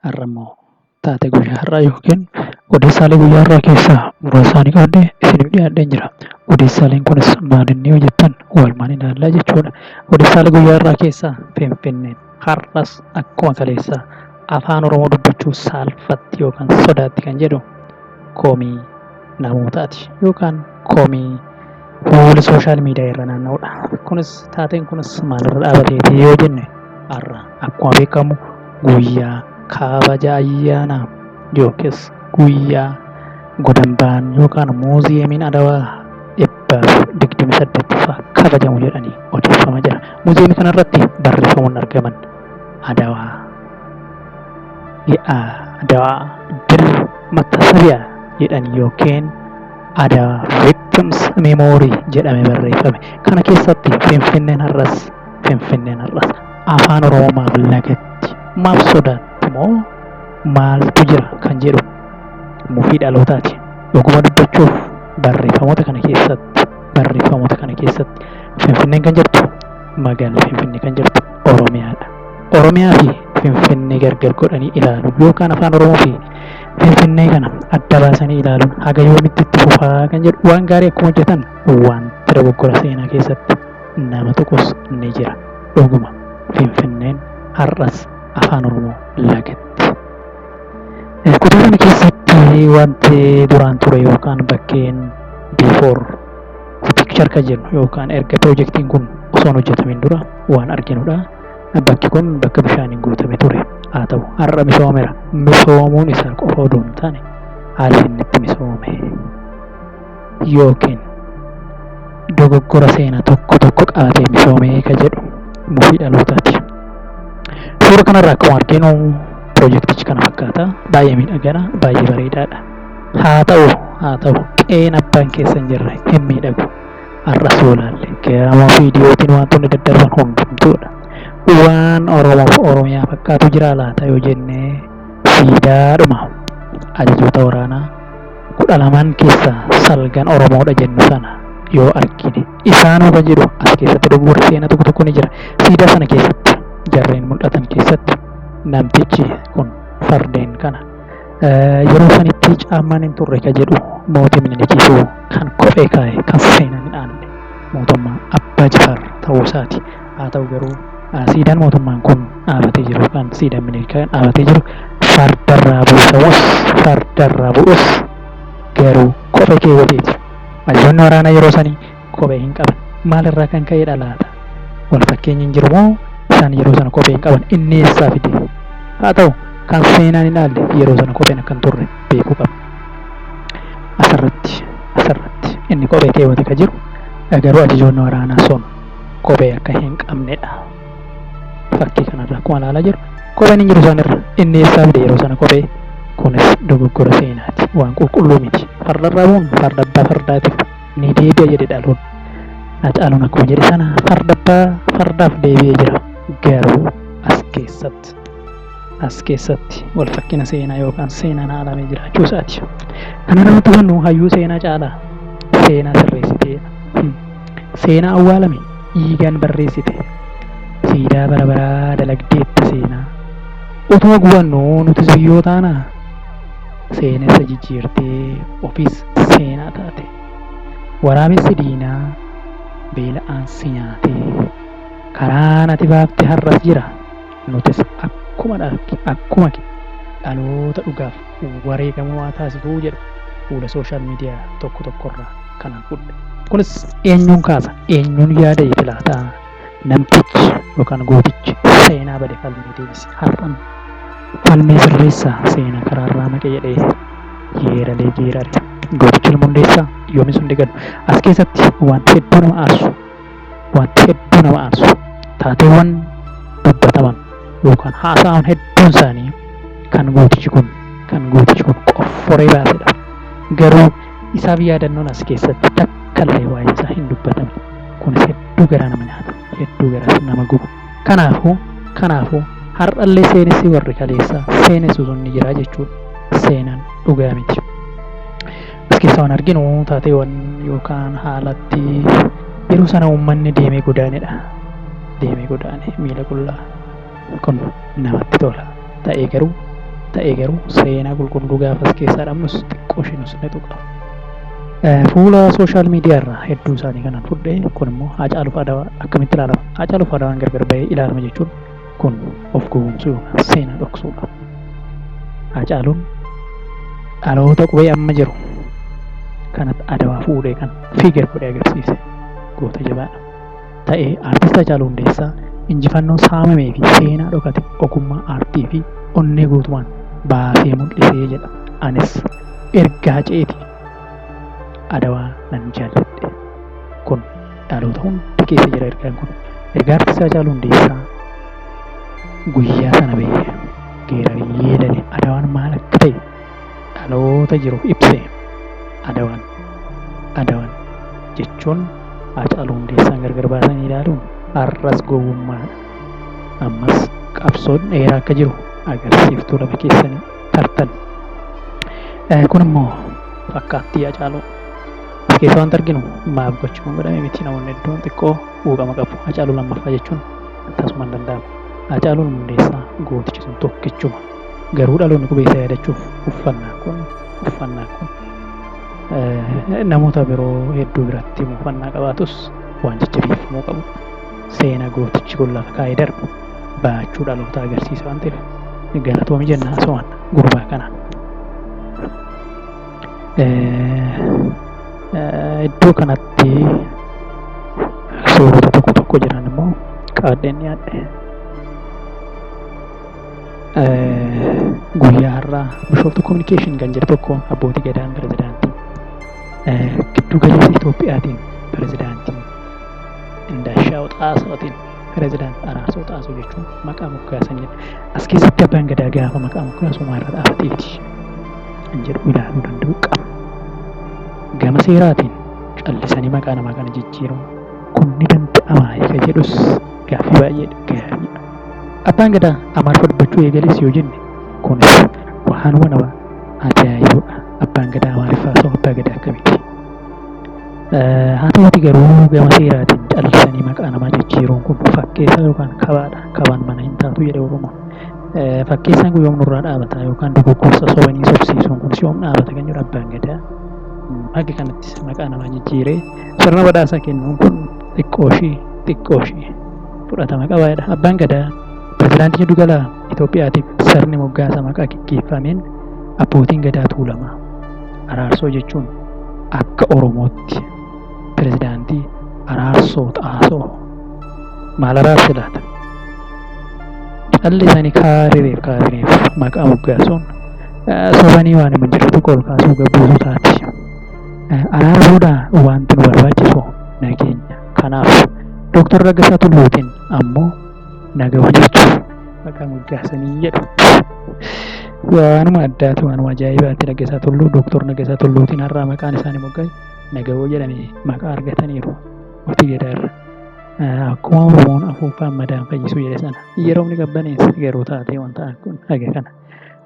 Har'ammoo taatee guyyaa har'aa yookiin odeessaalee guyyaa har'aa keessaa muraasa isaanii qabadhee isiniif dhiyaadheen jira. Odeessaaleen kunis maalinni yoo jettan walumaan ilaalla jechuudha. Odeessaalee guyyaa har'aa keessaa Finfinneen har'as akkuma kaleessaa Afaan Oromoo dubbachuu saalfatti yookaan sodaatti kan jedhu komii. namootaati yookaan komii fuula sooshaal miidiyaa irra naanna'udha. Kunis taateen kunis maalirra dhaabateeti yoo jenne har'a akkuma beekamu guyyaa kabaja ayyaanaa yookiis guyyaa godambaan yookaan muuziyeemiin Adawaa dhibba digdamii saddeettaffaa kabajamu jedhanii odeeffama jira. Muuziyeemii kanarratti barreeffamoonni argaman. Adawaa Ye'aa Adawaa Dil Mattasabiya jedhan yookiin Adawaa Victims Memory jedhame barreeffame. Kana keessatti Finfinneen har'as Finfinneen har'as afaan Oromoo maaf lagatti? Maaf sodaatti moo maaltu jira kan jedhu mufii dhalootaati. Dhuguma dubbachuuf barreeffamoota kana keessatti barreeffamoota kana keessatti Finfinneen kan jirtu Magaalli Finfinnee kan jirtu Oromiyaadha. Oromiyaa fi Finfinnee gargar godhanii ilaaluun yookaan afaan Oromoo fi Finfinnee kana adda baasanii ilaaluun haga yoomitti itti fufaa kan jedhu waan gaarii akkuma hojjetan wanti dogoggora seenaa keessatti nama tuqus ni jira. Dhuguma Finfinneen har'as afaan Oromoo lagatti. Kutaa kana keessatti wanti duraan ture yookaan bakkeen before The picture kan jennu yookaan erga pirojektiin kun osoo hin hojjetamin dura waan arginudha. Bakki kun bakka bishaaniin guutame ture. Haa ta'u har'a misoomeera. Misoomuun isaa qofa odoo hin taane haalli inni itti misoome yookiin dogoggora seenaa tokko tokko qabatee misoomee kan jedhu mufii dhalootaati. Suura kanarraa akkuma arginu pirojektichi kana fakkaata. Baay'ee miidhagadha, baay'ee bareedaadha. Haa ta'u, haa ta'u, qe'een abbaan keessan jirre hin miidhagu. Har'a suulaalle, geeramoo fi diyootiin waantonni daddarban hundumtuudha. Waan Oromoo fi Oromiyaa fakkaatu jiraa laata yoo jenne, siidaadhuma ajajoota waraanaa kudha lamaan keessaa salgan Oromoodha jennu sana yoo argine, isaanuu kan jedhu as keessatti dogoggorri seenaa tokko tokko ni jira. Siidaa sana keessatti, jarreen mul'atan keessatti namtichi kun fardeen kana. Yeroo sanitti caammaan hin turre ka jedhu mootii Minilikiifu kan kophee kaa'e kan seenan hin aanne mootummaa Abbaa Jifaar ta'uu isaati. Haa ta'u garuu siidaan mootummaan kun dhaabatee jiru yookaan siidaan Minilik dhaabatee jiru fardarraa buufamus fardarraa bu'us garuu kophee keewwateeti. Hayyoonni waraanaa yeroo sanii kophee hin qaban. Maal irraa kan ka'edha laata? Wal fakkeenyi hin jiru moo isaan yeroo sana kophee hin qaban? Inni eessaa fide? Haa ta'u, kan seenaan hin aalle yeroo sana kopheen akka hin turre beekuu qabna. Asirratti asirratti inni kophee keewwate ka jiru garuu ajajoonni waraanaa sun kophee akka hin qabnedha. Fakkii kanarraa akkuma ilaalaa jiru kopheen hin jiru isaanirra inni eessaa fide yeroo sana kophee kunis dogoggora seenaati waan qulqulluu miti fardarraa bu'uun farda abbaa fardaatiif ni deebi'a jedhe Dhaluun. Hacaaluun akkuma jedhe sana farda abbaa fardaaf deebi'ee jira. Garuu as keessatti as keessatti wal fakkina seenaa yookaan seenaan haalamee jiraachuu isaati. Kana nama tufannu hayyuu seenaa caalaa seenaa sirreessitee hmm, seenaa awwaalame dhiigaan barreessite siidaa bara baraa dalagdeetta seenaa. Otoo gubannu nutis biyyoo taanaa? seenessa jijjiirtee ofiis seenaa taate. Waraabessi diinaa beela'aan si nyaatee. Karaan ati baafte har'as jira, nutis akkuma dharke akkuma kee dhaloota dhugaaf wareegama waa taasifuu jedhu fuula social media tokko tokkorraa kanan fudhe. Kunis eenyuun kaasa, eenyuun yaada itti laata? namtichi yookaan gootichi seenaa bade falmee deebise har'an falmee sirreessaa seena karaarraa maqe jedhee yeeralee geerare gootichi nama hundeessaa yoomis hundi galu as keessatti wanti hedduu nama aarsu wanti hedduu nama aarsu taateewwan dubbataman yookaan haasa'aman hedduun isaanii kan gootichi kun kan gootichi kun qofforee baasedha garuu Isaaf yaadannoon as keessatti takka illee waa'een isaa hin dubbatamne. Kunis hedduu garaa nama nyaata, hedduu garaas nama guba. Kanaafuu, kanaafuu har'a illee seenessi warri kaleessaa seenessu sun ni jira jechuu dha. Seenaan dhugaa miti. As keessaa waan arginu taateewwan yookaan haalatti yeroo sana uummanni deemee godaane dha. Deemee godaane miila qullaa. kun namatti tola ta'ee garuu ta'ee garuu seenaa qulqulluu gaafas keessaa dhabnus xiqqoo ishee nus ni tuqa. Fuula sooshaal miidiyaa irraa hedduu isaanii kanan fudhe kun immoo Haacaaluuf Adawaa akkamitti ilaalama? Haacaaluuf Adawaan gargar bahee ilaalama jechuun kun of gowwoomsuu yookaan seenaa dhoksuudha. Haacaaluun dhaloota qubee amma jiru kanatti Adawaa fuudhee kan fiigar godhee agarsiise goota jabaadha. ta'e Artist Hacaaluu Hundeessaa injifannoo saamamee fi seenaa dhokate ogummaa aartii fi onnee guutumaan baasee mul'ise jedha. Anis erga Haceeti Adawaa nan jaalladhe. Kun dhaloota hunda keessa jira ergaan kun. Ergaa Artist Hacaaluu Hundeessaa guyyaa sana ba'e geeraree yeedale Adawaan maal akka ta'e dhaloota jiru ibse. Adawan, Adawan jechuun Haacaaluu Hundeessaan gargar baasanii ilaaluun har'as gowwummaadha. Ammas qabsoon dheeraa akka jiru agarsiiftuu lama keessanii tartan. Eh, Kun immoo fakkaattii Haacaaluu as keessa wanti arginu maaf gochuun godhame miti namoonni hedduun xiqqoo quuqama qabu. Haacaaluu lammaffaa jechuun akkasuma hin danda'amu. Haacaaluun Hundeessaa gootichi sun tokkichuma. Garuu dhaloonni qubeessaa yaadachuuf uffannaan kun uffannaan kun namoota biroo hedduu biratti uffannaa qabaatus waan jajjabeeffamuu qabu seena gootichi kun lafa kaa'ee darbe baachuu dhaloota agarsiisa waan ta'eef galatoomi jenna asumaan gurbaa kana. Iddoo kanatti suurota tokko tokko jiran immoo qaadheen dhiyaadhe. Guyyaa har'aa Bishooftuu Kominikeeshin kan jedhu tokko abbootii gadaan pirezidaantii giddu galeessa Itoophiyaatiin pirezidaantii Indaashaa'u Xaasootiin pirezidaantii Araarsoo Xaasoo jechuun maqaa moggaasanidha. As keessatti abbaan gadaa gaafa maqaa moggaasu maarra dhaabateeti kan jedhu ilaaluu danda'u qaba. Gama seeraatiin callisanii maqaa namaa kana jijjiiruun kun ni danda'amaa isa jedhus Gaaffii baay'ee gaariidha. Abbaan Gadaa Amaariffa dubbachuu eegales yoo jenne kunis waanuma nama ajaa'ibuudha. Abbaan Gadaa Amaariffaa osoo Abbaa Gadaa akkamitti? Haa ta'uuti garuu gama seeraatiin callisanii maqaa namaa jijjiiruun kun fakkeessaa yookaan kabaadha. Kabaan mana hin taatu jedhe Oromoon. Fakkeessaan kun yoom nurraa dhaabata yookaan dogoggorsa sobanii sobsiisuun kunis yoom dhaabata kan jedhu Abbaan Gadaa haga kanatti maqaa namaa jijjiiree Sirna badhaasa kennuun kun xiqqooshii xiqqooshii fudhatama qaba jedha. Abbaan Gadaa pirezidaantii jiddu gala Itoophiyaatiif sirni moggaasa maqaa geggeeffameen abbootiin Gadaa Tuulamaa araarsoo jechuun akka Oromootti pirezidaantii araarsoo xaasoo maal araarse laata? Callisanii kaarireef kaarireef maqaa moggaasuun sobanii waan hin jirretu ol kaasuu gabbuusuu taati. Araara booda wanti nu barbaachisu nageenya. Kanaaf Doktar Laggasaa Tulluutiin ammoo naga hojjechu maqaa moggaasanii jedhu. Waanuma addaati, waanuma ajaa'ibaati Laggasaa Tulluu, Doktar Laggasaa Tulluutiin har'aa maqaan isaanii moggaa'e Nagawoo jedhanii maqaa argataniiru Mootii Gadaa irra. Akkuma Oromoon afuuffaan madaan fayyisuu jedhe sana yeroomni qabbaneesse garuu taatee wanta kun haga kana.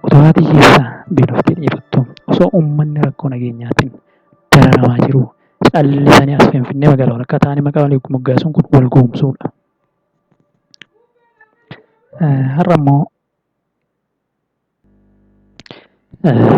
Otoo haati hiyyeessaa beeloftee dheebottoo, osoo uummanni rakkoo nageenyaatiin dararamaa jiruu callisanii as Finfinnee magaalaa walakkaa taa'anii maqaa walii moggaasuun kun wal gowwomsuudha. Har'a immoo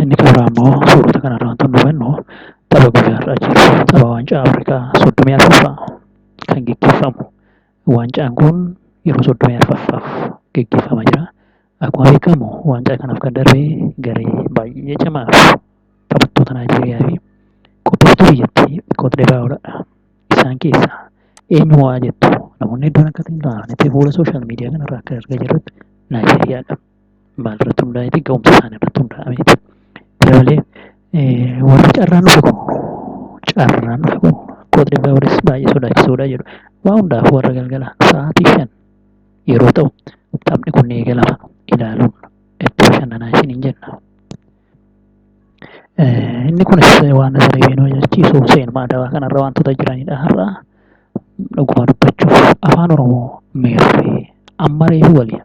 inni xumuraa immoo suurota kanarraa wanti nu hubannu tapha guyyaa har'aa jiru tapha waancaa Afrikaa soddomii arfaffaa kan geggeeffamu. Waancaan kun yeroo soddomii arfaffaaf geggeeffamaa jira. Akkuma beekamu waancaa kanaaf kan darbe garee baay'ee cimaa fi taphattoota Naayijeeriyaa fi qopheessituu biyyattii Koot Divaawuradha. Isaan keessaa eenyu mo'aa jettu? Namoonni hedduun akka ta'in ta'anitti fuula sooshaal miidiyaa kanarraa akka argaa jirrutti Naayijeeriyaadha. Maalirratti hundaa'eeti? Ga'umsa isaanii irratti hundaa'ameeti. Kana malee warri carraan dhufe kun carraan dhufe kun Koot Divaawuris baay'ee sodaachisuudha jedhu. Waa hundaaf warra galgala sa'aatii shan yeroo ta'u taphni kun ni eegalama ilaaluun itti bashannanaa isiniin jenna. Inni kunis waan Zareebiin hojjechiisu seenuma adabaa kanarra wantoota jiranidha har'a. Dhuguma dubbachuuf afaan Oromoo meerree amma reefu waliin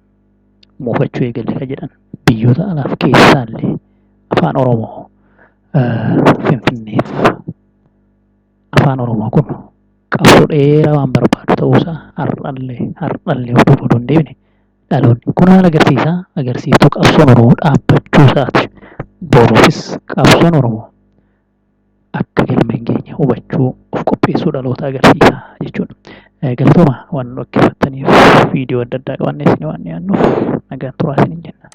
moofachuu eegalle kan jedhan biyyoota alaaf keessaallee afaan Oromoo Finfinneef Afaan Oromoo kun qabsoo dheeraa waan barbaadu ta'uu isaa har'allee har'allee of duuba odoo hin deebine dhaloonni kun maal agarsiisa? Agarsiiftuu qabsoon Oromoo dhaabbachuu isaa ti. Boruufis qabsoon Oromoo akka galma hin geenye hubachuu, of qopheessuu dhaloota agarsiisa jechuu dha. Galatoomaa waan nu dhaggeeffattaniif viidiyoo adda addaa qabannee isinii waan dhiyaannuuf nagaan turaa isiniin jenna.